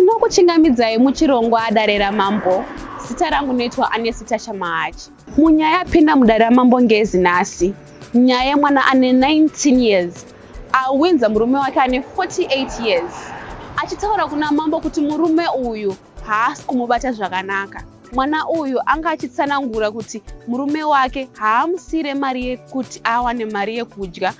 Tinokuchingamidzai muchirongwa Dare raMambo. Zita rangu noitwa Anesi Tasha Mahachi. Munyaya yapinda muDare raMambo ngezi nhasi. Nyaya yemwana ane 19 years awinza murume wake ane 48 years achitaura kuna mambo kuti murume uyu haasi kumubata zvakanaka. Mwana uyu anga achitsanangura kuti murume wake haamusire mari yekuti awane mari yekudya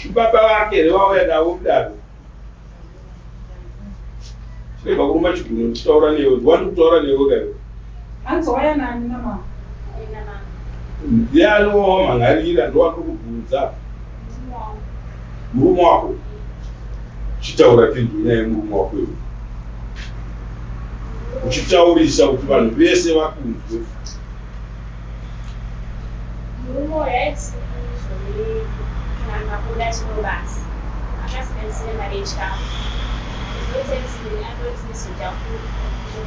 Chibaba vake here vauya navo kudaro? Chiremba kuruma chigunwe ndichitaura newe, ndiwani kutaura newe kaiwe. Hanzi waya nani mama? Ndiye anowa mhan'arira ndowandiri kubvunza. Murume wako? Chitaura tinzwe nyaya yemurume wako iwe. Uchitaurisa kuti vanhu vese vakunzwe. Murume uyu aisi izvo kana makuda chino basa akasiganisire mari yechikafu kuzotedzei andoti ndizodya futi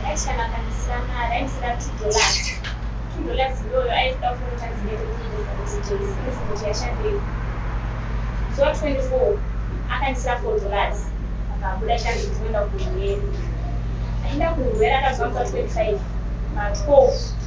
aiti kana akandisira mari aindisira two dollars two dollars iyoyo aitoda kunoita dzinenge kunyengesa kuti jeisinisi kuti yashandei zuva 24 akandisira four dollars akabuda chanzi tinoenda kuhweri aenda kuhweri akazwanza 25 ma 12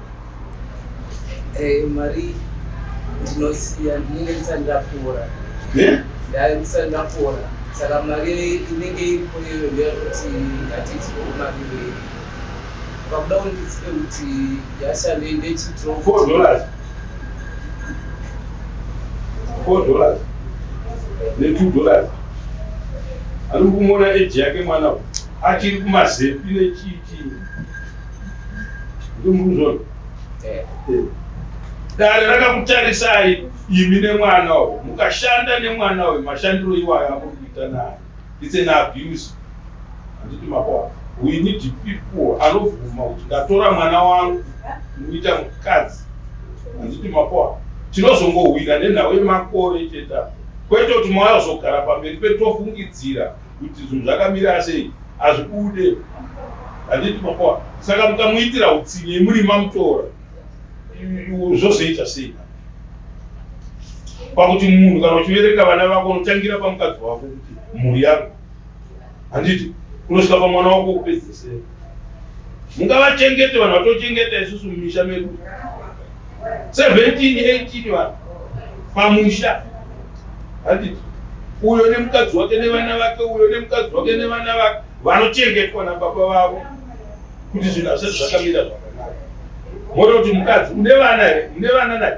Eh, mari ndinosiya ndinenge ndisati ndapora eh? ndai ndisati ndapora saka mari inenge iripo iyoyo ndeyekuti hatiitiroo mari iyoyo vakuda kundizive kuti yashande ndechidro four dollars four dollars netwo dollars ari kumona eji yake mwana achiri kumazepi nechii Dare rakakutarisai imi nemwana uyu mukashanda nemwana uyu mashandiro iwayo amuri kuita naye it's an abuse handiti makwa we need people anobvuma kuti ndatora mwana wangu muita mukadzi handiti makwa tinozongohwina nenhau yemakore chete kwete kuti mwaazogara pamberi petofungidzira Kuti zvinhu zvakamira sei hazvibude handiti makoa saka mukamuitira hutsinye muri mamutora zvozoita sei pakuti munhu kana uchivereka vana vako unotangira pamukadzi wako kuti mhuri yako handiti unosvika pamwana wako kupedzesera mungavachengete vanhu vatochengeta isusu mumisha medu 1718 vanhu pamusha handiti uyo nemukadzi wake nevana vake uyo nemukadzi wake nevana vake vanochengetwa nababa vavo kuti zvinhu hazvati zvakamira zvakanaka mota kuti mukadzi une vana here une vana naye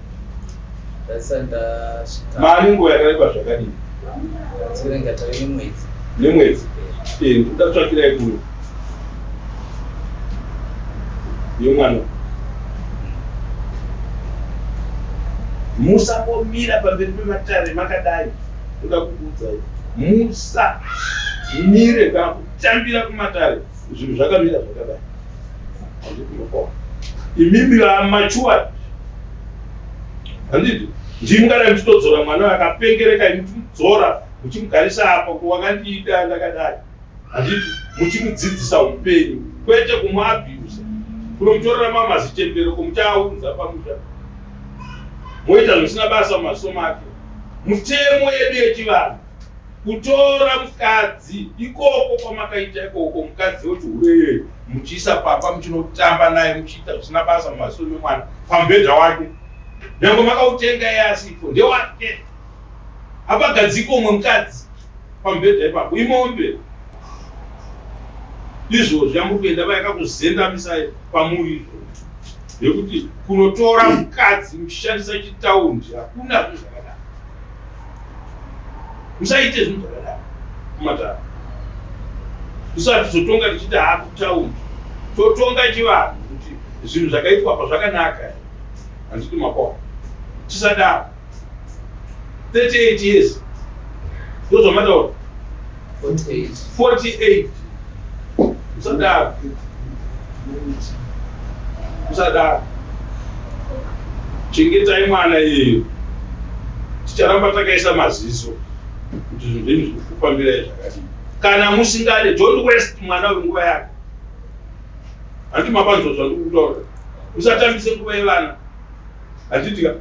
mari nguva yakareba zvakadini nemwedzi eh, ndatsvakirai kuno yemwana musangomira pamberi pematare makadai ndoda kukuudzai musamire kana kutambira kumatare zvinhu zvakamira zvakadai imimi vamachuwa handiti ndii mukadai muchitodzora mwana akapengereka imuchimudzora muchimugarisa apa kuwakandiita ndakadai handiti muchimudzidzisa upenyu kwete kumuabhusa kunomutorera mamazichembero komuchaaunza pamusha moita zvisina basa mumasomo ake mutemo yedu yechivanhu kutora mukadzi ikoko kwamakaita ikoko mukadzi wechihure iyoyo muchiisa pamba muchinotamba naye muchiita zvisina basa mumaziso memwana pamubhedha wake nyange makautenga iye asipo ndewake apagadziko umwe mukadzi pamubhedha ipapo imombe izvozvi amuri kuenda vayakakuzendamisai pamuri izvozvi nekuti kunotora mukadzi muchishandisa chitaundi hakuna zvezvakadaro musaite zvinhu zvakadaro kumatara usatizotonga tichiti haa kutaundi totonga chivanhu kuti zvinhu zvakaitwa apa zvakanaka handiti makona tisadaro 38 years ndozvamataura 48 usadaro usadaro chengetai mwana iyeyo ticharamba takaisa maziso kuti zvinhu zvenyu zviri kufambira zvakadii kana musingade don't west mwana wenguva yake handi mabanzwa zvandikutaura musatambise nguva yevana Handiti ka?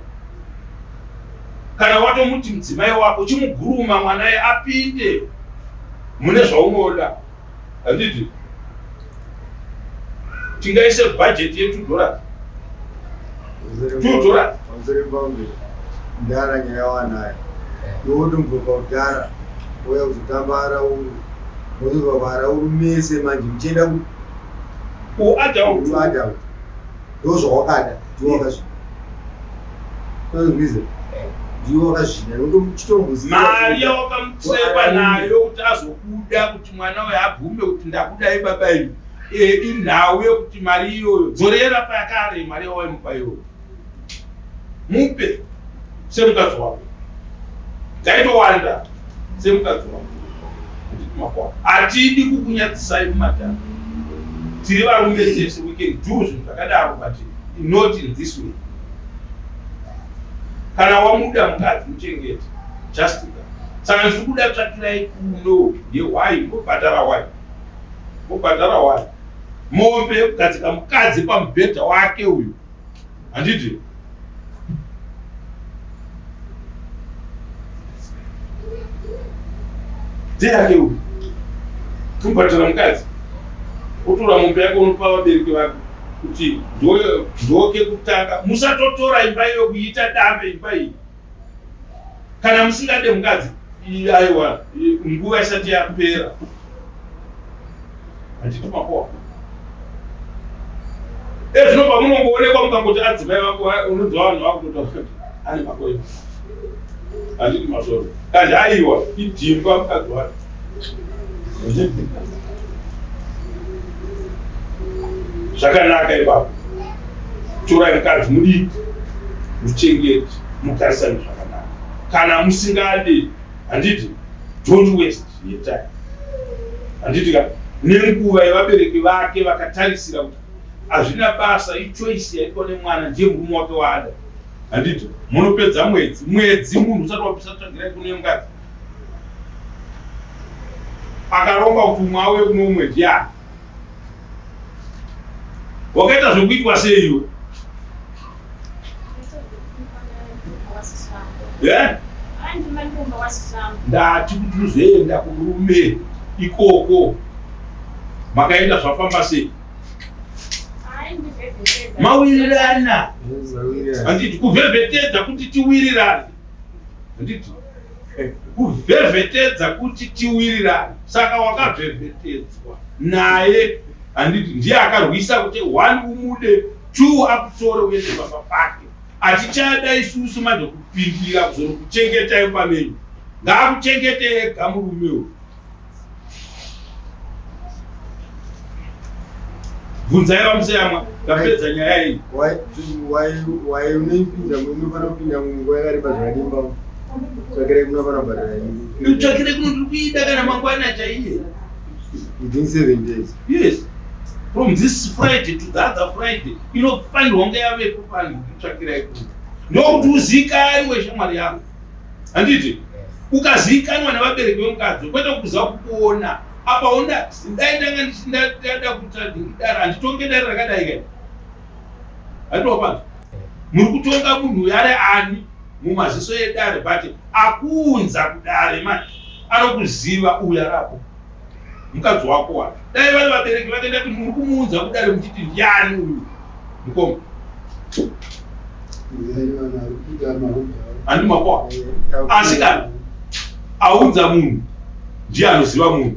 Kana watomuti mudzimai wako chimuguruma mwana ye apinde mune zvaunoda. Handiti? Tingaise budget ye 2 dollars. 2 dollars. Pamsere pangu ndara nyaya wanayo. Yowotombo paudara oya kuzotamba arauru. Mozova varauru mese manje muchienda ku u adult. Adult. ndozvawakada ndiwe wakazvida ndozvize ndiwe wakazvida ndochitombuzi mari yawakamutseva nayo kuti azokuda kuti mwana uyo abvume kuti ndakuda ibaba imi eh, inhau yekuti mari iyoyo dzorera payakare mari yawaimupa iyoyo mupe semukadzi wako ngaitowanda semukadzi wako kumakwa hatidi kukunyadzisai kumadhara tiri varume tese we can do zvinhu zvakadaro but not in this way kana wamuda mukadzi muchengete just that saka ndiri kuda tsvakirai kuno yewai mobhadhara wai mobhadhara wai mombe kugadzika mukadzi pamubhedha wake uyu handiti ndeyake uyu kubhadhara mukadzi otora mombe yako unopa vabereki vako kuti ndoke kutanga musatotora imba iyo kuiita dambe imba iyi kana musingade mukadzi aiwa nguva isati yapera handiti makoa ezvino pamunongoonekwa mukangoti adzimai vako unonzi vanhu vakutotaura kuti ane makoa handiti masoro kandi aiwa idhimba mukadzi wacho zvakanaka ipapo torai mukadzi mudiki muchengeti mugarisani zvakanaka kana musingadi handiti don't waste your time handiti ka nenguva yevabereki vake vakatarisira kuti hazvina basa ichoice yaitwa nemwana ndiye murume wake waada handiti munopedza mwedzi mwedzi munhu usati wabisa tsvagirai kune mukadzi akaromba kuti umwe auye kuno umwe ndiani wakaita zvekuitwa seiwe ndati kuti uzoenda kurume ikoko makaenda zvafamba sei mawirirana handiti kuvhevhetedza kuti tiwirirane handiti kuvhevhetedza kuti tiwirirane saka wakavhevhetedzwa naye handiti ndiye akarwisa kuti one umude two akutore uende baba pake atichada isusu manje kupindira kuzoro kuchengetai pamenyu ngaakuchengetee gamurume uyu bvunzai vamuseyamwa tapedza nyaya iyi wai unoipinda unofanira kupinda munguva yakareba zvakadimba tsvakirei kunofanira kubhadhara ini tsvakirei kuno ndiri kuida kana mangwana chaiye within seven days yes from this friday to the other friday inofanirwa kunge yavepo pano kutsvakirai kuno ndokuti uziikani weshamwari yangu handiti ukaziikanwa nevabereki vemukadzi kwete kuza kukuona apa unda dai ndanga ndichindada kutadara handitonge dare rakadai kai handiopanza muri kutonga munhu uyo ari ani mumaziso edare but akuunza kudare manje anokuziva uyo arapo mukadzi wako wa dai vari vabereki vake ndati muri kumuunza kudare muchiti ndiani uyu mukoma handi makoa asi kana aunza munhu ndiye anoziva munhu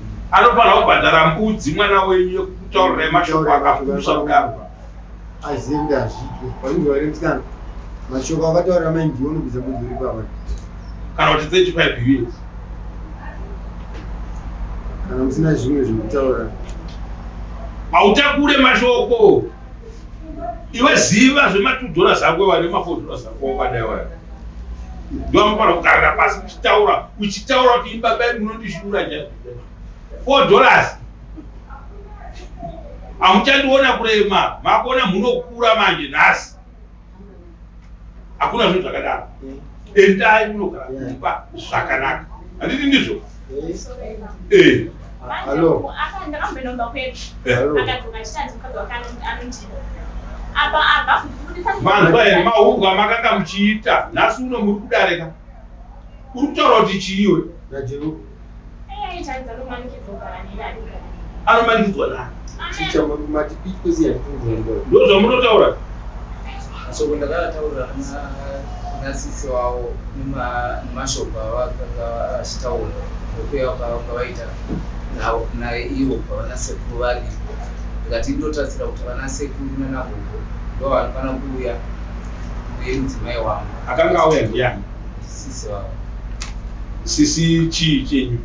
anofanira kubhadhara mbudzi mwana wenyu yekutaurira mashoko akapusa kudaro aziende azvitwe vanenge vari msikana mashoko akataurira mai ndiwo nobvisa mbudzi uri pava kana kuti 35 years kana musina zvimwe zvekutaura hautakure mashoko iwe ziva zvematudhoras ako wari mafodoras ako wakadai waya ndoamukwana kugarira pasi uchitaura uchitaura kuti ini baba edu munondishura ja four dollars hamuchandiona kurema makuona munokura manje nhasi hakuna zvinhu zvakadaro endai munogara kumba zvakanaka handiti ndizvo Eh. Hello. vanhu vaye mahungu amakanga muchiita nhasi uno muri kudarika uri kutaura kuti chiiwe anomanikidzwa nani ndozvamunotaura Mashoko ndakataura nasisi wavo nemashoko avakanga vachitaura nekuuya kwavanga vaita naye ivo pavana sekuru varipo ndikati indotarisira kuti vana sekuru nanagogo ndo vanofana kuuya uye mudzimai wangu akanga auya ndiyani sisi vavo sisi chii chenyu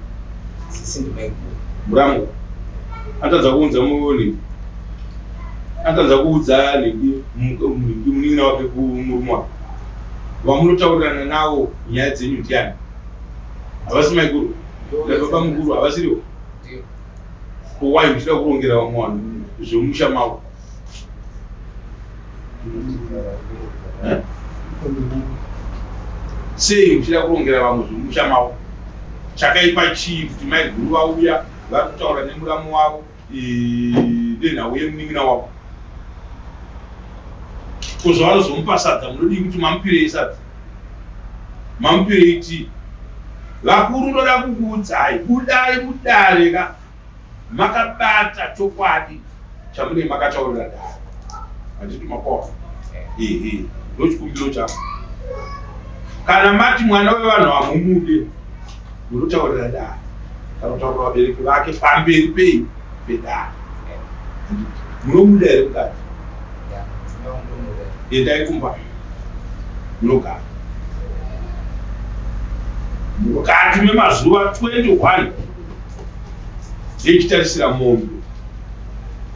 sisi ndimaiguru muramwa atadza kuunza muvoni Atadza kuudza Lady munin'ina wake kumurume wake. Vamunotaurirana nawo nyaya dzenyu ndiani? Havasi maikuru nababa mukuru havasiriwo. Kowai muchida kurongera vamwe vanhu zvemumusha mavo? Eh? Sei muchida kurongera vamwe zvemumusha mavo? Chakaipa chii kuti maiguru vauya vari kutaura nemuramu wavo? Ibe nhau yemunin'ina wako ko zvavanozomupa sadza munodii kuti mamupirei sadza mamupirei tii vakuru ndoda kukuudzai budai mudare ka makabata chokwadi chamune makataurira dare handiti makofa ehe ndochikumbiro chako kana mati mwana wevanhu hamumude Munotaurira dare kana kutaurira vabereki vake pamberi pei pedare munomuda here mukadzi endai kumba munogara mukati memazuva 21 yechitarisira mombe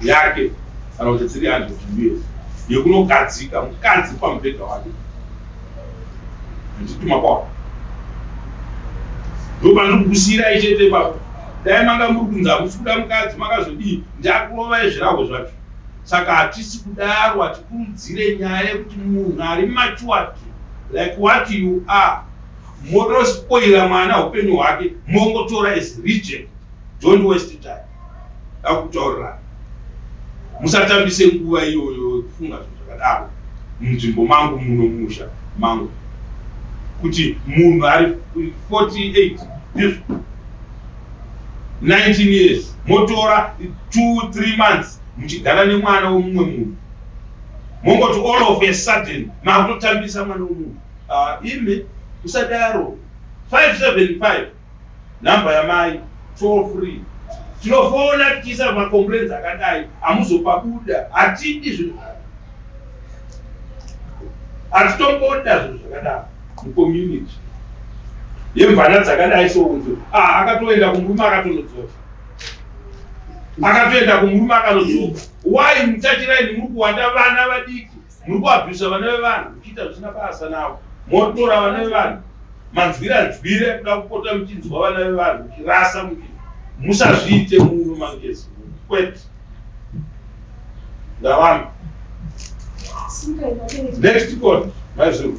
yake kana kuti 300 years yekunogadzika mukadzi pamubhedha wake Handituma kwako. Ndopandiri kukusiirai chete ipapo. Dai manga muri kunzi hamusi kuda mukadzi makazodii ndakurovai zvirahwe zvacho. Saka hatisi kudaro hatikurudzire nyaya yekuti munhu ari matured like what you are motospoira mwana upenyu hwake mongotora as reject. Don't waste time. akutaurira musatambise nguva iyoyo kufunga zvinhu zvakadaro munzvimbo mangu muno musha mangu kuti munhu ari 48 ndizvo 19 years motora 23 months muchigara nemwana wemumwe munhu mongoti all of a sudden makutotambisa mwana wemunhu ah, imi usadaro 575 number yamai toll free tinofona tichiisa macomplains akadai hamuzopabuda hatidi zvinhu hatitomboda zvinhu zvakadaro mucommunity yemvana dzakadai sounzo ah, akatoenda kumurume akatonodzoka akatoenda kumurume akanodzoka why muchachiraini muri kuwanda vana vadiki Muri kuabhisa vana vevanhu muchiita zvisina basa navo. Motora vana vevanhu manzwira nzwira ekuda kupota muchinzwa vana vevanhu muchirasa muchi musazviite muno mangezi kwete. Ndavamba. Next call, maizuru.